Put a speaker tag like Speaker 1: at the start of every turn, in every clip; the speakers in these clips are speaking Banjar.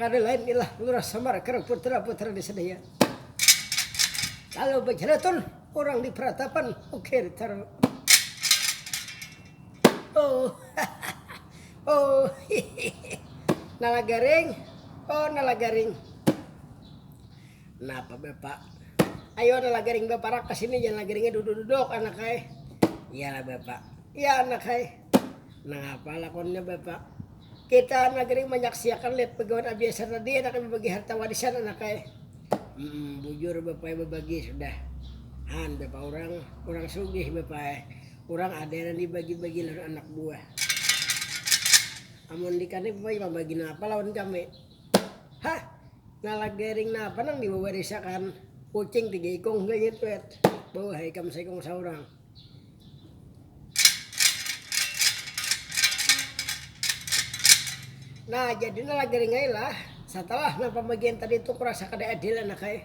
Speaker 1: Kada lain ilah Lurah Samar karna putra-putra di Sedayan. Lalu bajalatur urang di peratapan ukir taru. Oh hahaha oh hihihi Nalagaring oh Nalagaring. Napa Bapak, ayo Nalagaring baparak ka sini ja Nalagaringnya duduk-duduk anak ai. Iyalah Bapak, iya anak ai. Nangapa lakonnya bapak. Kita anak gering manyaksiakan lihat pegawai abiasa tadi anaknya bebagi harta warisan anaknya. Humm bujur bapaknya bebagi sudah. Haan bapak urang, urang sugih bapaknya. Urang ada nang dibagi-bagi lawan anak buah. Amun dikani bapaknya mambagi napa lawan kami. Hah nalak gering napa nang diwawarisakan. Kucing tiga ikung gayung tuet. Beuh ikam saikung saurang. Nah, jadi nah lagi ringai lah. Setelah nah pembagian tadi itu kurasa kada adil anak eh.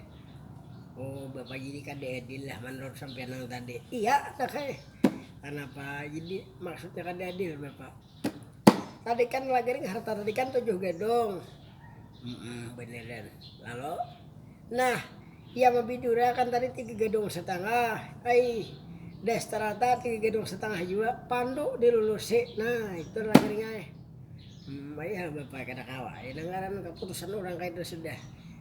Speaker 1: Oh, Bapak jadi kada adil lah menurut sampean yang tadi. Iya, anak eh. Kenapa? Jadi maksudnya kada adil, Bapak. Tadikan lagering harta tadikan tujuh gadung. Haa beneran lalu nah iya mabidurakan tadi tiga gadung satangah ai das tarata tiga gadung satangah jua pandu dilulusi nah itu lagering ai. Hmm ai hal bapa kada kawa ai nang ngaran kaputusan urang kaitu sudah.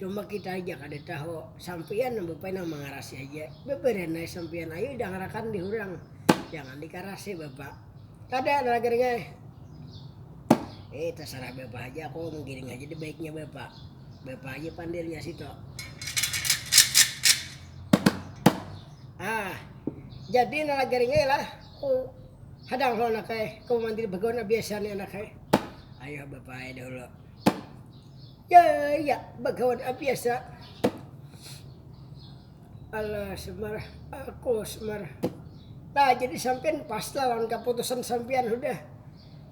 Speaker 1: Cuma kita aja kada tahu, sampiyan nang bapaina mangarasi aja, babarian ai sampiyan ayu dangarakan dihurang, jangan dikarasi bapak, kada ada lagi ring ai, eh tasarah bapak haja aku manggiring haja di baiknya bapak, bapak aja pandirnya situ, ah jadi nang lagi ring ai lah ku hadang ho anak ai, ku mandir bagawan abiasa ni anak ai, ayuh bapak ai dahulu. Ya, ya, bagawan abiasa. Alah, Semar, aku Semar. Nah, jadi sampean pas lah lawan keputusan sampean sudah.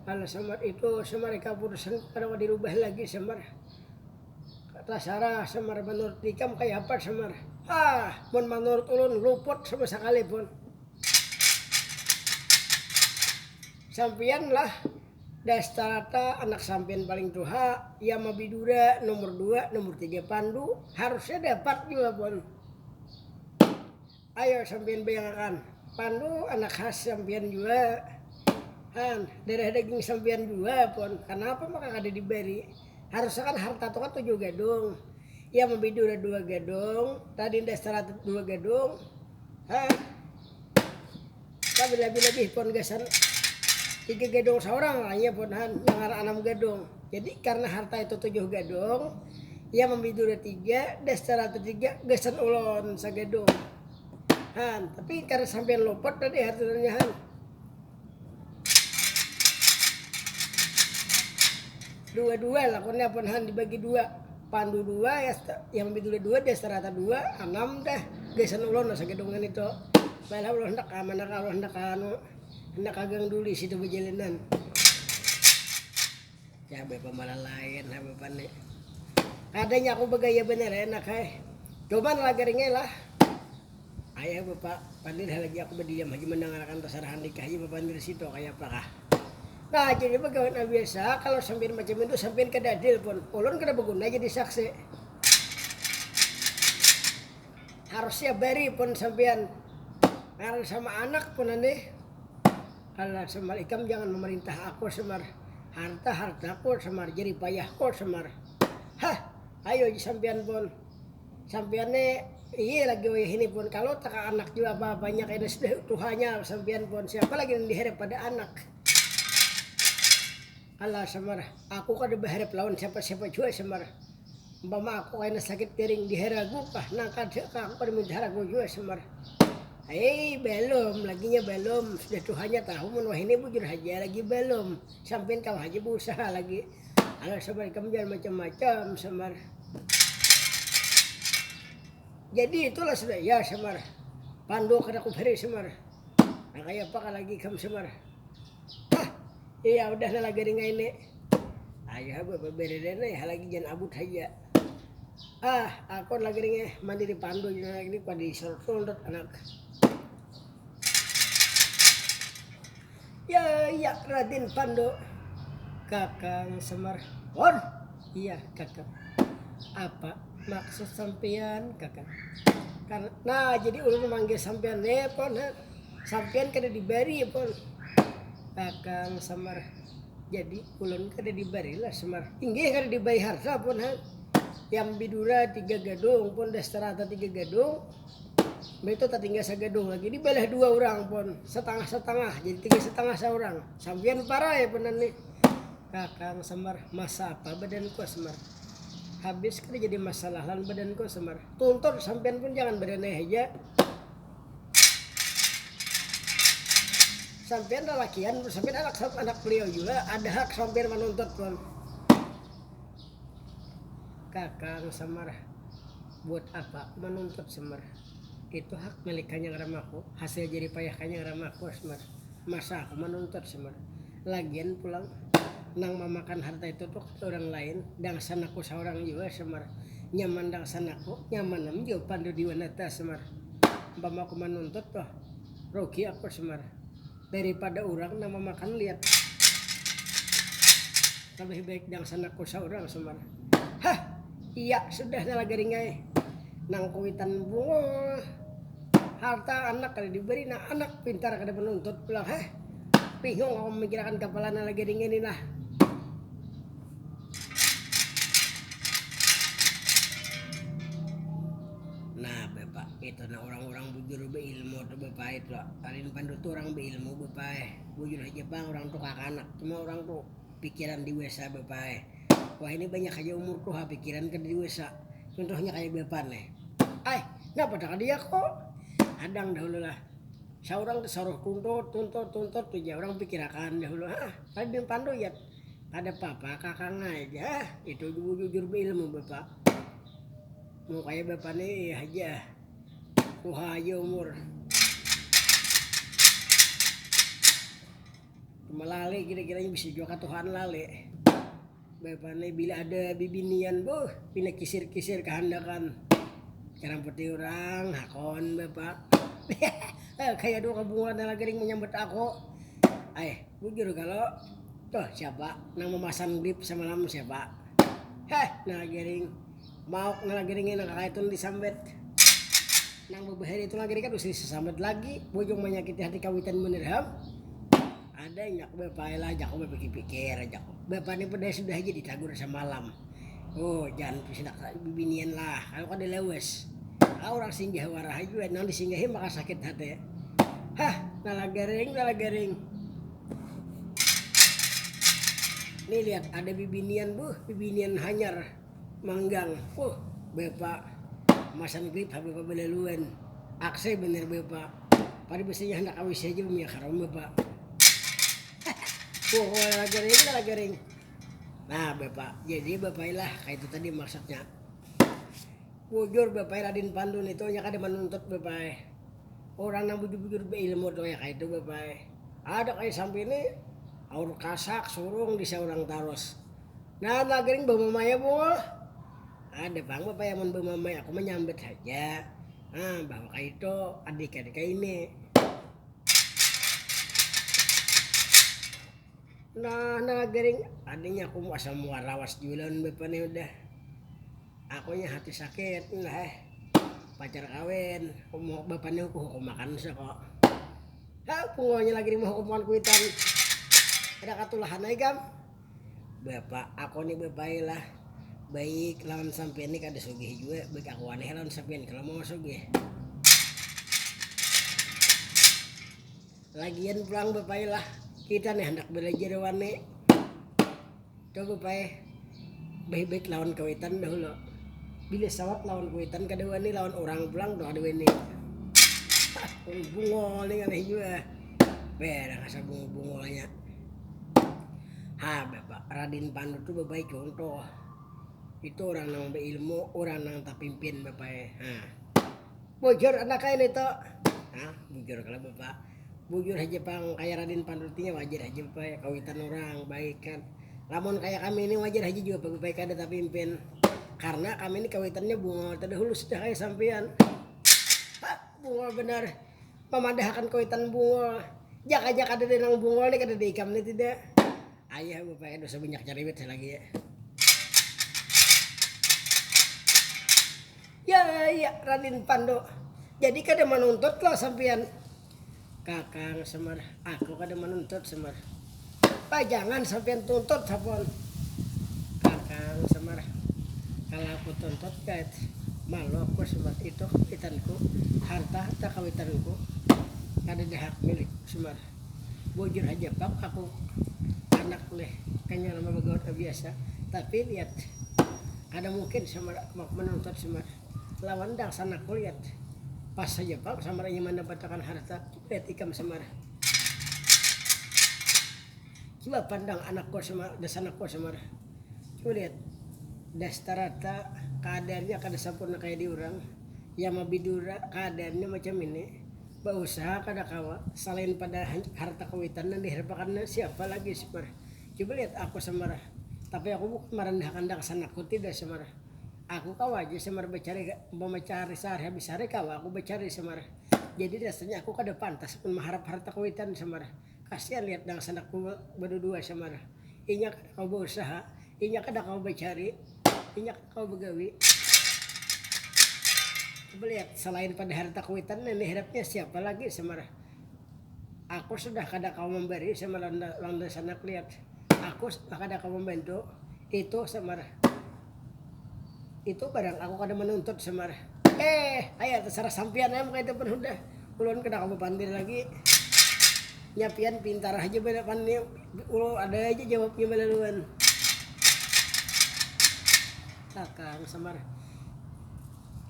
Speaker 1: Alah, Semar itu, Semar keputusan kadawa dirubah lagi, Semar. Tasarah, Semar, menurut ikam kaya apa, Semar? Ah, mun menurut ulun luput sama sakali pun. Sampiyan lah, Dastarata anak sampiyan paling tuha, Yamabidura nomor dua, nomor tiga Pandu, harusnya dapat jua pun. Ayo sampiyan bayangakan, Pandu anak khas sampiyan jua han, darah daging sampiyan jua pun, kanapa maka kada dibari, harusnya kan harta tu kan tujuh gadung, Yamabidura dua gadung, Raden Dastarata dua gadung, ha. Kada berlabih-labih pon gasan tiga gadung saurang lah iya pon han yang ngaran anam gadung. Jadi karna harta itu tujuh gadung, iya mambi dura tiga dastar tiga gasan ulun sagadung han. Tapi kada sampiyan luput tadi hartanya han. Dua-dua lah pon nya pon han dibagi dua. Pandu dua yang lebih dulu dua dia serata dua anam dah gasan ulun asa gedung ini tu baiklah ulun hendak ka mana ka ulun hendak ka anu hendak ka gang duli situ bejalanan ya bapa malalain ha bapa ni kadanya aku begaya banar enak hai cuman lagar ini lah. Ayah bapa pandir halagi aku badiam haja mandangarakan tasarahan lika haja bapandir situ kayapakah. Nah jadi bagawi nang biasa kalo sampiyan macam itu sampiyan kada adil pun ulun kada baguna jadi saksi harusnya bari pun sampiyan ngaran sama anak punan nih alah semar ikam jangan memerintah aku semar harta hartaku semar jeripayahku semar hah ayo aja sampiyan pun. Sampiyan ne iye lagi wayahini pohon kalu taka anak jua bah banyak ini sudah tuhanya sampiyan pohon siapa lagi nang diharap ada anak alah samar aku kada baharap lawan siapa siapa jua samar umpama aku kaina sakit piring diharagu kah nang kada kah aku kada minta haragu jua samar Hei, belum, laginya belum. Sudah tuhanya tahu mun wahini bujur haja lagi belum. Sampian kau haja berusaha lagi. Alah samar ikam jangan macam-macam samar. Jadi itulah sudah ya samar. Pando kada kuberi samar. Nah kaya apa kan lagi kam samar. Hah, iya udah lah lagi ringai ini. Ayo ha beri rena ya lagi jangan abut haja. Ah, aku lagi ringai mandi di pando ini padi sorot anak. Ya, ya, Raden Pandu. Kakang Semar. Hor. Iya, Kakang. Apa maksud sampean, Kakang? Karena nah, jadi ulun memanggil sampean le, Pon. Sampean kada dibari, Pon. Kakang Semar. Jadi ulun kada dibari lah, Semar. Inggih kada dibari harta, Pon. Yang bidura tiga gadung, Pon. Dastarata tiga gadung. Mbah itu tatinggal sagadung lagi di balah dua orang pun setengah-setengah jadi tiga setengah seorang sampian parai punan nih kakang semar masa apa badanku semar habis kada jadi masalah lan badanku semar tuntur sampian pun jangan badanai haja sampian lalakian sampian anak anak beliau juga ada hak sampian manuntut pun Kakang Semar, Buat apa aku manuntut Semar, itu hak milik Kanyang Ramaku, hasil jerih payah Kanyang Ramaku Semar, masa aku manuntut Semar, lagian pulang nang mamakan harta itu tu kada urang lain dangsanaku saurang jua Semar, nyaman dangsanaku nyamanam jua Pandu Diwanata Semar, umpama aku manuntut tu rugi aku Semar. Daripada urang nang mamakan liat Labih baik dangsanak ku saurang Sumar, Hah! Iya sudah salah garing ai Nang kuwitan bungul Harta anak kada diberi Nang anak pintar kada manuntut pulang Hah! Bingung aku mamikirakan kapala nang lagi ringin ni lah. Nah, Bapak. Itu nah urang-urang bujur beilmu tu bepait lo. Paling pandu tu urang beilmu bepaeh. Bujur haja pang urang tu kakanak. Cuma urang tu pikiran dewesa bepaeh. Wahini banyak haja umur tuha pikiran kada dewesa. Cuntuhnya kaya bepan nih. Ai, napa dah kada yako? Hadang dahulu lah. Saurang tesaruh tuntut, tuntut, tuntut tu ja urang pikir akan dahulu. Hah, paling pandu yat. Kada papa kakang ai ja. Hah, itu bujur beilmu bepa. Mau kaya bapa ni haja tuha haja umur. Melalek kira kira nya bisa jua katuhaan lalek. Bapa ni bila ada bibinian beuh pina kisir kisir kehandakan jarang pati urang hakon bapa kaya dua kebungulan nang lagi ring menyambut aku ai bujur kalo tuh siapa nang memasan grip semalam siapa heh nang lagi ring. Mauk nang lagi ringin nang kakaytu nang disambet. Nang babahaya ditu lagi rikat usih disasambat lagi, bujung manyakiti hati kawitan banar ham. Ada nyak bapa ai lah jakku bapikir-pikir jakku. Bapa ni padaha sudah haja ditagur samalam. Oh jan pisinak bibinian lah kalu kada lawas. Ka urang singgah waraha jua nang disinggahi maka sakit hati. Hah nalagaring nalagaring. Ni lihat ada bibinian buh bibinian hanyar. Manggang, huh bapa masam grip ha bapa balaluan, aksai banar bapa, pada biasanya handak ka wc haja bamiak haram bapa, hahaha huh lala garing lala garing, nah bapa jadi bapa ilah kaitu tadi maksudnya, bujur bapa radin pandu nitu inya kada manuntut bapa ai, urang nang bujur bujur bailmu tu kaya kaitu bapa ai, ada kaya sampai ni aur kasak surung di saurang tarus. Nah lah gering bamamai abul. Ada pang bapaya mun bamamai aku manyambat haja. Nah bahwa kaitu adik-adik kaini. Nah nah gering adanya aku asa muar lawas jua lawan bapa nih udah. Aku nya hati sakit nah eh pacar kawin umur bapa nih aku hukum makan sa kok. Hah pungawanya lagi nih mahukum makan kuitan. Ada katulahan ai gam. Bapak, ako ni bapai lah baik lawan sampiyan ni kada sugih jua, baik ako wani ha lawan sampiyan kalo mau sugih. Lagian pulang bapai lah kita ni handak balajar wani tu bapai baik baik lawan kawitan dahulu bila sawat lawan kawitan kada wani lawan urang pulang tu kada wani bungol ni ngalih jua, weh dah rasa bungol bungolnya. Ha, Raden Pandu tu babaik contoh, itu urang nang bailmu, urang nang tapimpin bapak e, ha bujur anak ai nitu, ha bujur kalo bapak, bujur haja pang kaya raden pandu ti wajar haja bapak e kawitan urang baik kan, lamun kaya kami ni wajar haja jua bapak e kada tapimpin karna kami ni kawitannya bunga terdahulu sudah kaya sampiyan, ha bunga banar. mamadahakan kuitan bungul, jak aja kadada nang bungul ni kadada ikam ni tidak ayah bapaya dosa banyak cariwit salagi ya raden pandu jadi kada manuntut lo sampian kakang semar aku kada manuntut semar. Pajangan sampiyan tuntut sapon kakang Semar. Kala aku tuntut kait malu aku Semar itu kawitanku harta harta kawitanku kada ada hak milik Semar. Bujur haja pang aku anak leh hanya nama bagaul biasa tapi lihat kada mungkin Semar menuntut Semar lawan dangsan aku lihat pas haja pang Semar inya mandapatakan harta. Lihat ikam samar. Coba pandang anak kau samar, das anak kau samar. Coba lihat. Das tarata kaadaannya kada sampurna kaya di urang. Yang mabidura kaadaannya macam ini, bausaha kada kawa. Salain pada harta kawitan nang diharapakannya siapa lagi samar. Coba lihat aku samar. Tapi aku bukan marandahakan dakas anakku tidak samar. Aku kawa aja samar bacari, umpama cari sahari habis sahari kawa aku bacari samar. Jadi rasanya aku kada pantas pun maharap harta kuitan samar. Kasian lihat dangsanakku badudua samar. Inya kada kawa bausaha, inya kada kawa bacari, inya kada kawa bagawi. Coba lihat salain pada harta kuitan nang diharapnya siapa lagi samar. Aku sudah kada kawa mambari samar lawan dangsanak lihat. Aku sudah kada kawa mambantu itu samar. Itu barang aku kada manuntut samar. Eh, aya tasarah sampian am kaya itu pun hudah, ulun kada kawa bapandir lagi. Nya pian pintar haja banar pan ni, ulu ada haja jawabnya balaluan. Kakang, samar.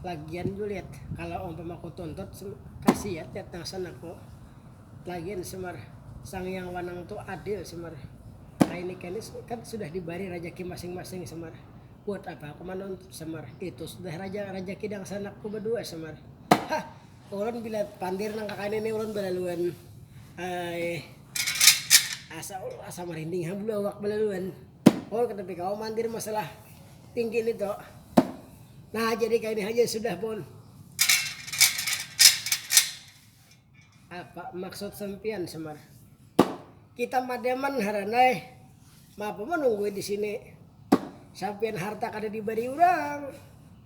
Speaker 1: Lagian Juliet, kalo umpama kutuntut, kasiat Yat nang sana ko. Lain Semar, Sang Hyang Wanang tu adil Semar, kaini kini kan sudah dibari rajaki masing-masing Semar, buat apa aku manuntut Semar, itu sudah rajaki dangsanakku badua Semar, hah ulun bila pandir nang kakaini ni ulun balaluan asa marinding ha bulu awak balaluan, ulun kada tapi kawa mandir masalah tinggi ni tu, nah jadi kaini haja sudah pun. Apa maksud sempian Semar. Kita madiaman haran ai, maapa manunggui di sini. Sampian harta kada dibari urang.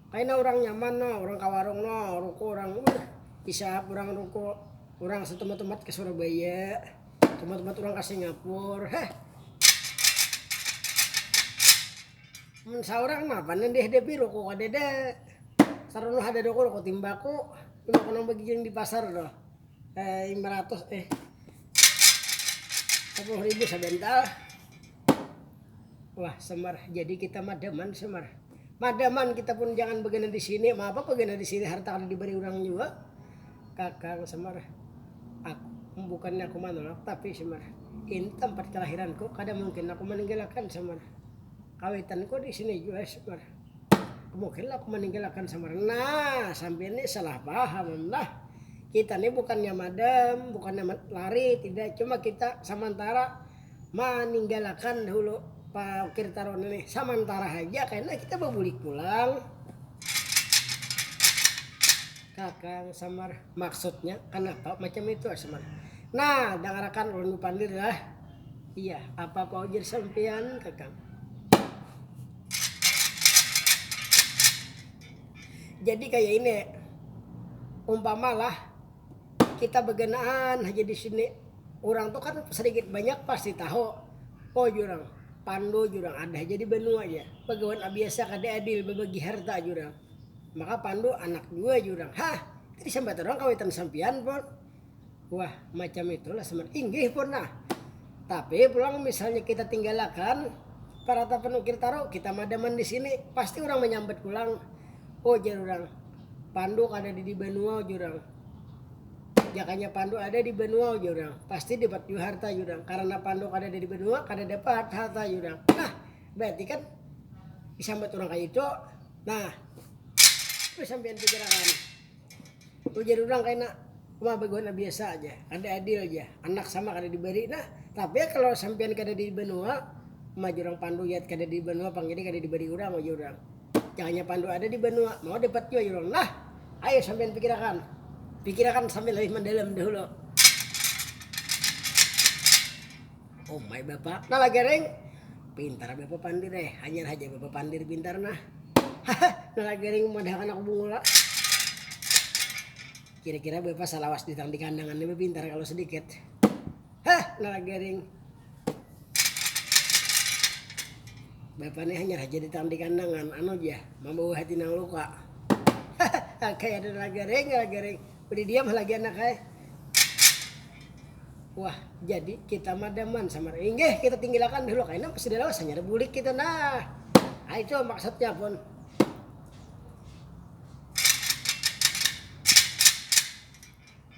Speaker 1: Kaina urang nyaman no, urang ka warung no, ruku urang wuih isap urang ruku. Urang satumat-tumat ka Surabaya, tumat-tumat urang ka Singapura, heh. Mun saurang mah apa nang dihadapi rokok kadada sarana kada ada rokok timbako timbako nang bagigiling di pasar tuh lima ratus eh sepuluh ribu sabantal wah semar jadi kita madaman semar madaman kita pun jangan bagana di sini ma apa bagana di sini harta kada dibari urang jua kakang semar aku bukannya aku manolak tapi semar ini tempat kelahiranku kada mungkin aku maninggalakan semar. Kawitan ko disini jua Syukur. Mungkin lah aku maninggal akan samaran. Nah, sampiyan ni salah paham am lah. Kita ni bukannya madam, bukannya lari, tidak. Cuma kita samantara maninggalakan dahulu paukir taruna nih. Samantara haja kena kita babulik pulang. Kakang samar, maksudnya kanapa macam itu ah samar. Nah, dangarakan ulun bapandir lah. Iya, apa apa ujar sampian kakang. Jadi kayak ini, umpamalah kita begenaan aja di sini, orang tuh kan sedikit banyak pasti tahu, oh jurang pandu jurang ada aja di benua ya, pegawai biasa kada adil bebagi harta jurang, maka pandu anak dua jurang, hah tadi sambat orang kawitan sampian pon. Wah, macam itulah semen. Inggih pernah. Tapi pulang misalnya kita tinggalakan parata penukil taruh kita madaman di sini pasti orang menyambat pulang oh jar orang pandu ada di di benua jurang jakanya pandu ada di benua jurang pasti dapat juga harta jurang karena pandu ada di benua kada dapat harta jurang nah berarti kan disambat orang kayak itu nah itu sampean pikirakan Ujar urang kaina, Uma baguan nang biasa aja, kada adil ja, anak sama kada dibari nah, tapi kalo sampiyan kada di banua, uma jar urang pandu yat kada di banua pang jadi kada dibari urang ujar urang, jangannya pandu ada di banua mau dapat jua jar urang, nah ayu sampiyan pikirakan, pikirakan sambil lebih mandalam dahulu. Umai bapakna lah gareng pintar bapapandir eh hanyar haja bapapandir pintar nah haha nah lah gareng madahakan anak bungul lah kira kira bapa salawas duit nang dikandangan ni bapintar kalu sadikit hah nah lah gareng bapa ni hanyar haja duit nang dikandangan anu ja mambawa hati nang luka haha kaya ada lah gareng lah gareng. Udah diam ha lagi anak ai. Wah, jadi kita madaman samar. Inggih, kita tinggilakan dulu kaina sudah lawas hanyar bulik kita nah. Nah itu maksudnya pun.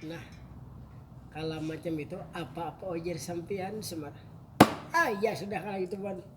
Speaker 1: Nah, kalau macam itu apa-apa ojer sampian semar. Ah, ya sudah kalau itu pun.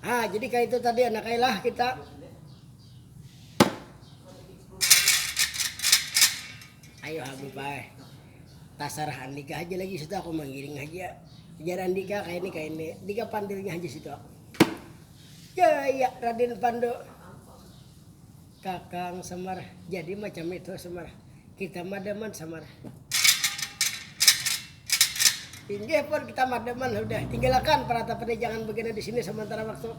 Speaker 1: ah jadi kayak itu tadi anak lah kita ayo Habib ay tasarah Andika aja lagi situ aku menggiring aja Jar Andika kayak ini kayak ini Andika pandilnya aja situ aku ya ya Raden Pandu Kakang samar, jadi macam itu samar, kita madaman samar. Inggih pun kita madaman hudah, tinggalakan paratapan ni jangan bagana di sini samantara waktu.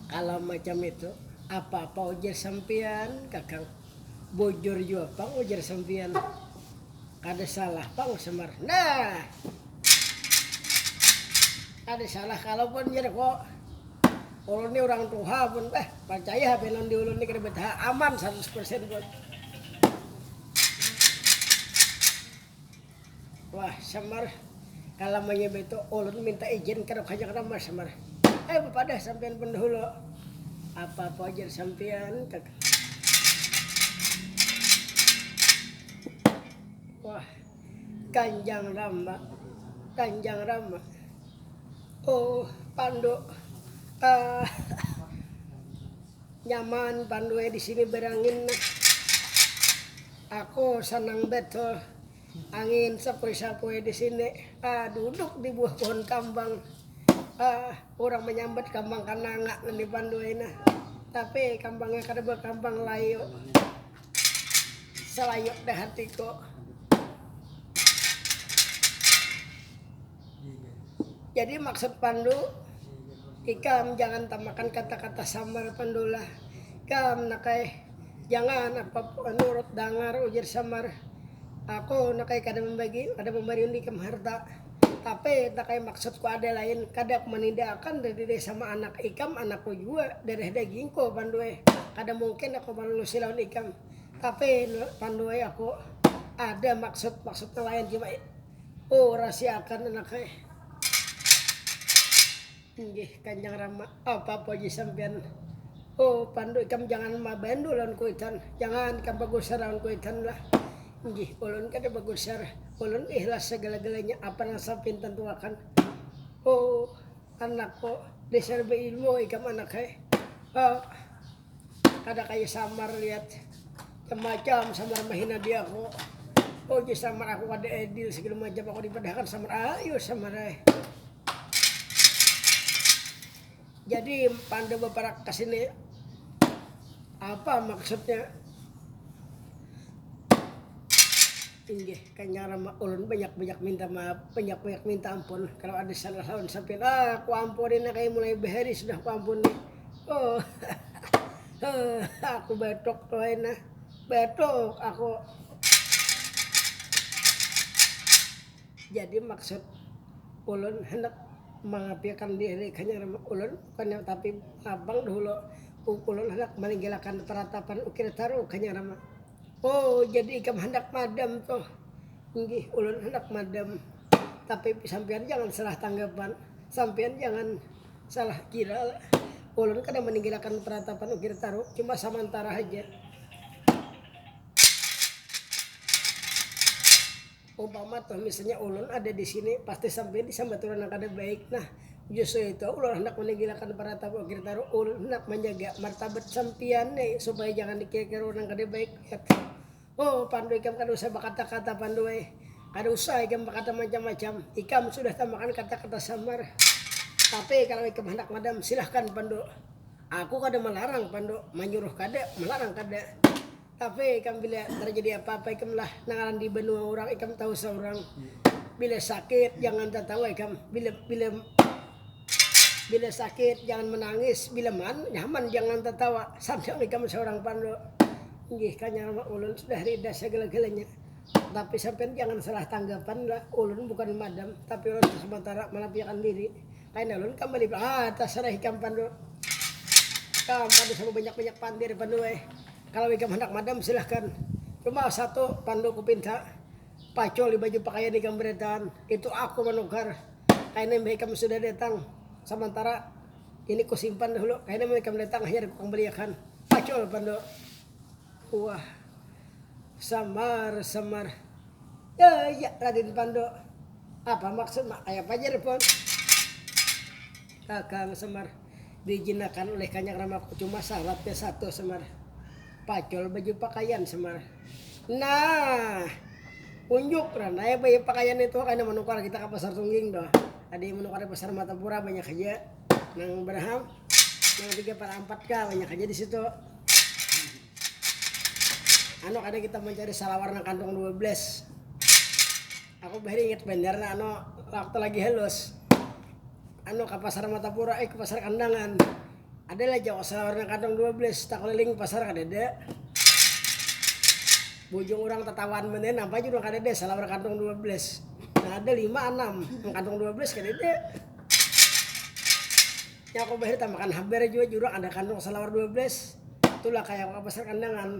Speaker 1: Kalau macam itu apa apa ujar sampiyan kakang, bujur jua pang ujar sampiyan, kada salah pang samar. Nah. Kada salah kalo pun jar ko, ulun ni urang tuha pun bah parcaya hp non di ulun ni kada betaha aman saratus persen pun. Wah samar kalamanya baitu ulun minta ijin kadok hajak nama samar, eh bapadah sampian pun dahulu apa ko jar sampian kak. Wah. Kanjang Rama, Kanjang Rama, oh Pandu ah nyaman Pandu eh disini berangin nah, aku sanang betul angin sapoi-sapoi disini ah duduk di buah pohon kambang ah urang menyambat kambang kananga ngini Pandu eh nah, tapi kambangnya kada berkambang layu. Selayuk deh hatiku. Jadi maksud Pandu, ikam jangan tamakan kata-kata samar Pandulah. Ikam nakai jangan apa nurut dangar ujar samar. Aku nakai kada membagi, kada membari undi ikam harta. Tapi ita kaya maksudku ada lain, kada aku manida akan dadiri sama anak ikam, anakku jua darah dagingku Panduwe, kada mungkin aku malulusi lawan ikam. Tapi Nur Panduwe aku ada maksud, maksud nang lain jua, ku rasiakan anakku. Inggih Kanjang Rama, apa puji sampiyan. O Pandu ikam jangan mabandu lawan kuitan, jangan ikam bagusar lawan kuitan lah. Inggih, ulun kada bagusar, ulun ihlas sagala-galanya apa nang sampiyan tantuakan. O anak O, dasar bailmu ikam anak ai. O. Kada kaya samar liat macam macam samar mahina diaku ujar samar aku kada adil segala macam aku dipadahakan samar ayu samar ai jadi pandu baparak kesini apa maksudnya inggih kanya rama ulun banyak banyak minta maaf banyak banyak minta ampun kalau ada salah lawan sampian aku ampuni nah kaya mulai bahari sudah ku ampuni. oh oh aku batuk tuh enak batuk aku jadi maksud ulun handak mangapiakan diri kanya ulun kanya tapi abang dahulu ulun handak maninggilakan peratapan ukir taru kanya rama oh jadi ikam handak madam tuh inggih ulun handak madam tapi sampian jangan salah tanggapan sampian jangan. Salah kira lah. Ulun kada meninggalkan peratapan ukir taruh, cuma samantara haja. Umpama tuh misalnya ulun ada di sini pasti sampai di sambaturan yang kada baik. Nah, justru itu ulun hendak meninggalkan peratapan ukir taruh, ulun hendak menjaga martabat sampian nih supaya jangan dikira-kira orang kada baik lihat. Oh, Pandu ikam kada usah bakata-kata Pandu ai. Kada usah ikam bakata macam-macam. Ikam sudah tamakan kata-kata samar. Tapi kalau ikam handak madam, silahkan Pandu. Aku kada malarang Pandu, manyuruh kada, malarang kada. Tapi ikam bila tarjadi apa-apa ikam lah nang ngaran di banua urang ikam tahu saurang. Bila sakit jangan tatawa ikam. Bila bila. Bila sakit jangan menangis, bila man, nyaman jangan tertawa. Sandang ikam seorang pandu. Nggih kanyang mah ulun sudah rida segala-galanya. Tapi sampean jangan salah tanggapan lah, ulun bukan madam, tapi ulun sementara manapiakan diri. Kaina ulun kambali ah tasarah ikam pandu. Ikam pandu sama banyak-banyak pandir pandu ai. Kalau ikam handak madam silahkan. Cuma satu pandu kupinta, pacul di baju pakaian ikam berataan, itu aku manukar. Kaina imbah ikam sudah datang, samantara ini ku simpan dahulu, kaina imbah ikam datang hanyar ku kambaliakan. Pacul Pandu. Wah. Samar-samar. Yahh, ya Radin Pandu. Apa maksudmu? Kayapa jar Pun? Kakang Semar diijinakan ulih Kanyang Rama cuma saratnya satu Semar, pacul baju pakaian Semar, Nah. Unjuk nah naya baju pakaian nih tuha kaina manukar kita ka pasar tungging tuh ada yang manukar di pasar matapura banyak haja nang baraha nang tiga par ampat ka banyak haja di situ anu kada kita mancari salawar nang kantong dua belas. Aku bahari ingat banar nah anu waktu lagi halus anu ka pasar matapura eh ka pasar kandangan ada lah jauh asa warna kadang dua belas takuliling pasar kadada bujung urang tatawaan banar napa aja urang kadada salawar kadang dua belas nah ada lima anam mun kadang dua belas kadada nya aku bahari tamakan habar jua jar urang ada kadang salawar dua belas tulah kaya aku ka pasar kandangan.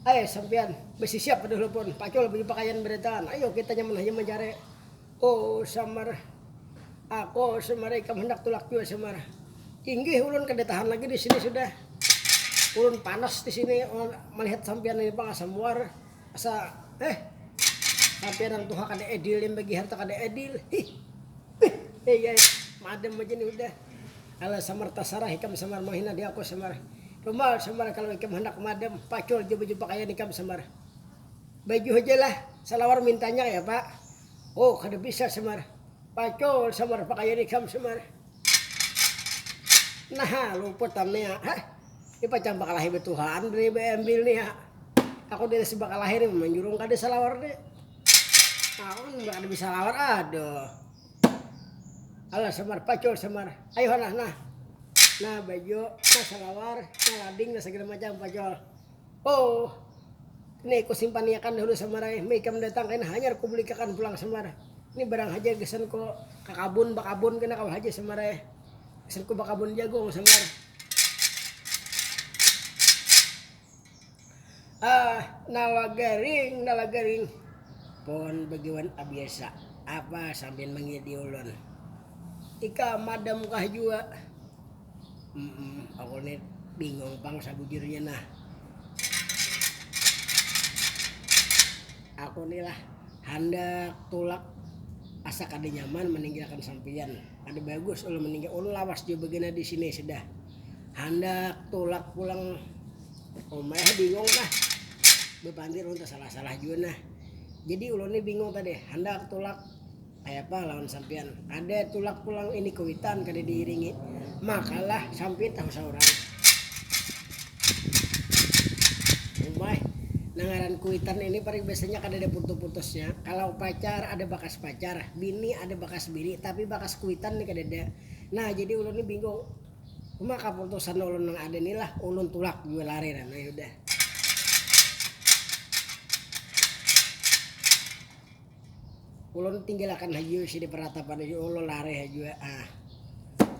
Speaker 1: Ai, sampiyan, basisiap kada hulupun, pacul baju pakaian badantangan, ayo kita nyaman haja mancari. Oh, samar ako, samar ikam handak tulak jua, samar. Inggih, ulun kada tahan lagi di sini sudah. Ulun panas di sini malihat sampiyan ini pang asa muar. Asa eh sampai orang tuha kada edil yang bagi harta kada edil hih bih eh ai madam aja nih udah ala samar tasarah ikam samar manghina di aku samar rumal samar kalau ikam handak madam pacul jua baju pakaian ikam samar baju haja lah salawar mintanya ya pak oh kada bisa samar pacul samar pakaian ikam samar naha luput am nia hah. Ini pacang bakalahi betuhaan dari beambil nih ya. Aku dari si bakalahi nih manjurung kada salawar nih. Nah, aku kan kada bisa lawar aduh. Alah samar pacul samar. Ayo nah nah. Nah baju, nah salawar, nah lading, nah segala macam pacul. Oh. Ini aku simpaniakan dahulu samar ay. Mei kam datang kain hanyar ku belikakan pulang samar. Ini barang haja gasan ku kakabun bakabun kena kawa haja samar ay. Hasilku bakabun jagung sambar. Ah, nala garing, nala garing. Pohon begiwan abiasa. Apa sampian mangidi ulun? Ika madamkah jua? Mm-mm, aku ni bingung pang sabujurnya nah. Aku ni lah handak tulak asa kada nyaman meninggalkan sampian. Kada bagus ulun meninggal, ulun lawas jua bagana di sini sudah. Handak tulak pulang rumah eh bingung nah. Bepandir ulun tersalah-salah jua nah. Jadi ulun ni bingung tadi, handak tulak kayapa lawan sampiyan. Kada tulak pulang ini kuitan kada diiringi. Makalah sampiyan tahu saurang. Umai, nang ngaran kuitan ini paring biasanya kadada putu-putusnya. Kalau pacar ada bakas pacar, bini ada bakas bini, tapi bakas kuitan ni kadada. Nah, jadi ulun ni bingung, uma kaputusan ulun nang ada ni lah, ulun tulak jua lari nah, nah ya udah. Ulun tinggilakan haja isi di peratapan isi ulun lari haja ah.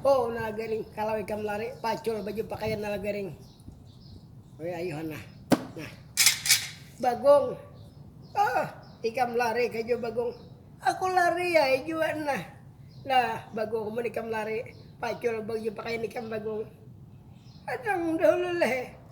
Speaker 1: Oh nah garing kalau ikam lari pacul baju pakaian nah garing. Woi ayuhan nah. Nah. Bagong. Ah, ikam lari kaja bagong. Aku lari ya juga nah. Nah, bagong mun ikam lari pacul baju pakaian ikam bagong. Adang dahulu leh.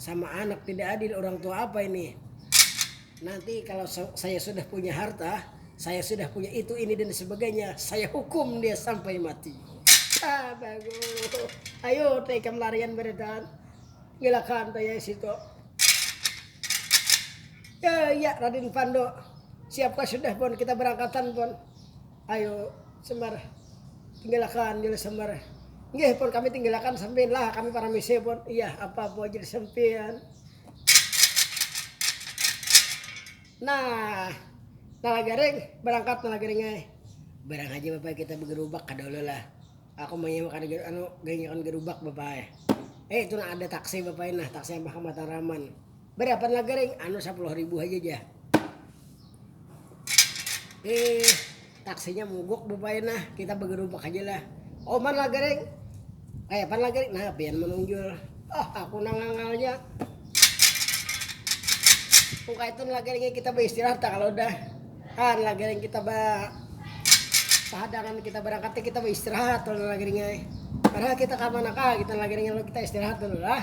Speaker 1: sama anak tidak adil orang tua apa ini nanti kalau saya sudah punya harta saya sudah punya itu ini dan sebagainya saya hukum dia sampai mati ah bagus ayo teh larian beredan ngilakan teh ya situ ya ya Raden Pando siapa sudah pun kita berangkatan pun Ayo Sembar tinggalakan Jil Sembar, Nggih pun kami tinggalakan sampian lah kami paramisi pun, Iyah apa pun Jil Sempian. Nah Nalagaring barangkat Nalagaring ai, barang haja Bapa ai kita bagarubak kada ulih lah aku maya makan anu ganyakan garubak Bapa ai. Eh itu nah ada taksi Bapa ai nah taksi Abah ka Mataraman. Barapan lah garing, anu sapuluh ribu haja ja. Eh, taksinya mogok bapaya nah, kita bagarubak haja lah. Oman lah garing, kayapan lah garing, nah pian manunjul. Oh, aku nang ngangalnya. Kung kaitan lah garingnya kita baistirahat ta kalau dah. Han lah garing kita ba pahadangan kita barangkat kita baistirahat lah garingnya. Padahal kita kamana kah kita lah garingnya kita istirahat dulu lah.